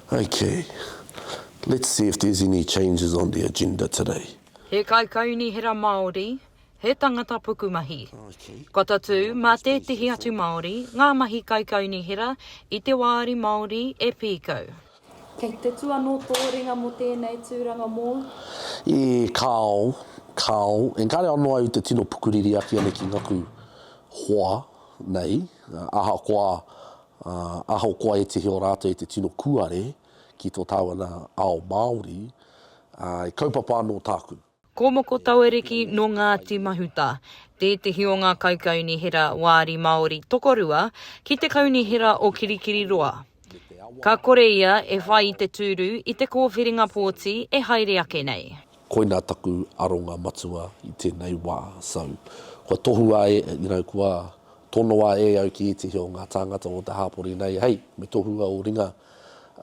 Ok, let's see if there's any changes on the agenda today. He kaikaunihera Māori, he tangata pukumahi. Kua tatū mā tētehi atu Māori ngā mahi kaikaunihera i te wāri Māori e pīkau. Kei te tū anō tō ringa mō tēnei tūranga mōu? E kāo, kāo, engari anō au te tino pukuriri ake nei ki ngaku hoa nei, ahakoa Ā, ahakoa e tihi o rātou i te tino kuare ki tō tāuana ao Māori, ā, i kaupapa anō tāku. Ko Moko Tauariki nō Ngāti Mahuta tētehi o ngā kaikaunihera wāri Māori tokorua ki te Kaunihera o Kirikiriroa. Ka kore ia e whai i te tūru i te kōwhiringa pōti e haere ake nei. Koina taku aronga matua i tenei wa, so, kua tohua e, you know, kua tonoa e au ki etahi o nga tāngata o te hāpori nei, hei, me tohua o ringa,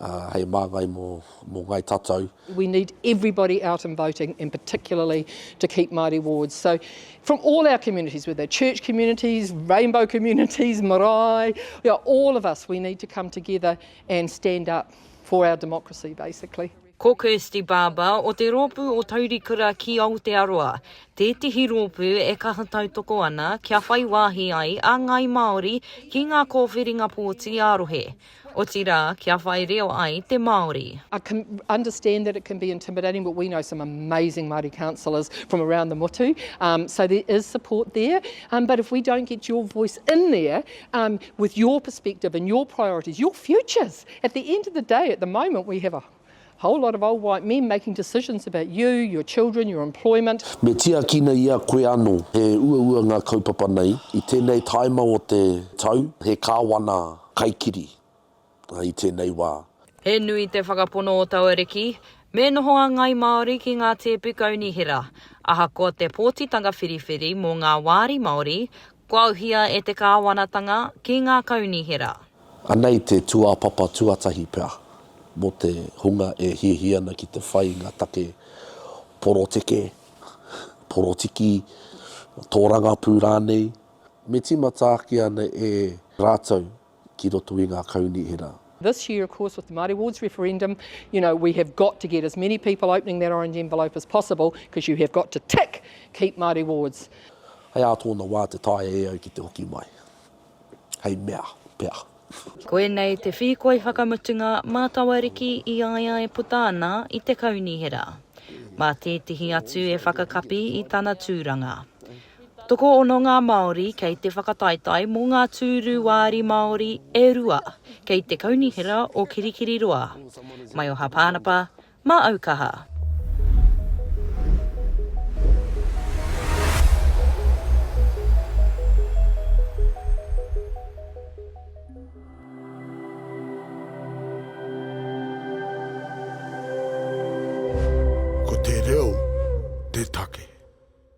ah, hei māngai mo, mo ngai tatau. We need everybody out and voting and particularly to keep Māori wards. So, from all our communities, whether they're church communities, rainbow communities, marae, you know, all of us, we need to come together and stand up for our democracy, basically. Ko Kirsty Barber o te rōpū o Taurikura ki Aotearoa, tētehi rōpū e kaha tautoko ana kia whai wāhi ai a ngāi Māori ki ngā kōwhiringa pōti ā-rohe, otirā kia whai reo ai te Māori. I can understand that it can be intimidating but we know some amazing Māori councillors from around the motu so there is support there but if we don't get your voice in there with your perspective and your priorities, your futures! At the end of the day, at the moment, we have a whole lot of old white men making decisions about you, your children, your employment. Me tiakina i a koe anō he uaua ngā kaupapa nei. I tēnei tāima o te tau, he kāwana kaikiri i tēnei wā. He nui te whakapono o taua riki, me noho a Ngāi Māori ki ngā tēpu kaunihera. Ahakoa te pōtitanga whiriwhiri mō ngā wāri Māori, kua auhia e te kāwanatanga ki ngā kaunihera. Anei te tūāpapa tuatahi pea mō te hunga e hiahia ana ki te whai i ngā take poroteke, porotiki, tōrangapū rānei, me tīmata ake ana e rātou ki roto i ngā kaunihera. This year of course with the Māori Awards referendum, you know, we have got to get as many people opening that orange envelope as possible because you have got to tick keep Māori Awards. Hei ā tōna wā te taea e au ki te hoki mai. hei mea pea. Koinei te whīkoi whakamutunga mā tawariki i a ia e puta ana i te Kaunihera. Mā tētehi atu e whakakapi i tana tūranga. Tokoono ngā Māori kei te whakataetae mō ngā tūru wāri Māori e rua kei te Kaunihera o Kirikiriroa, Maioha Pānapa, Mā au kaha. Ko te reo te take.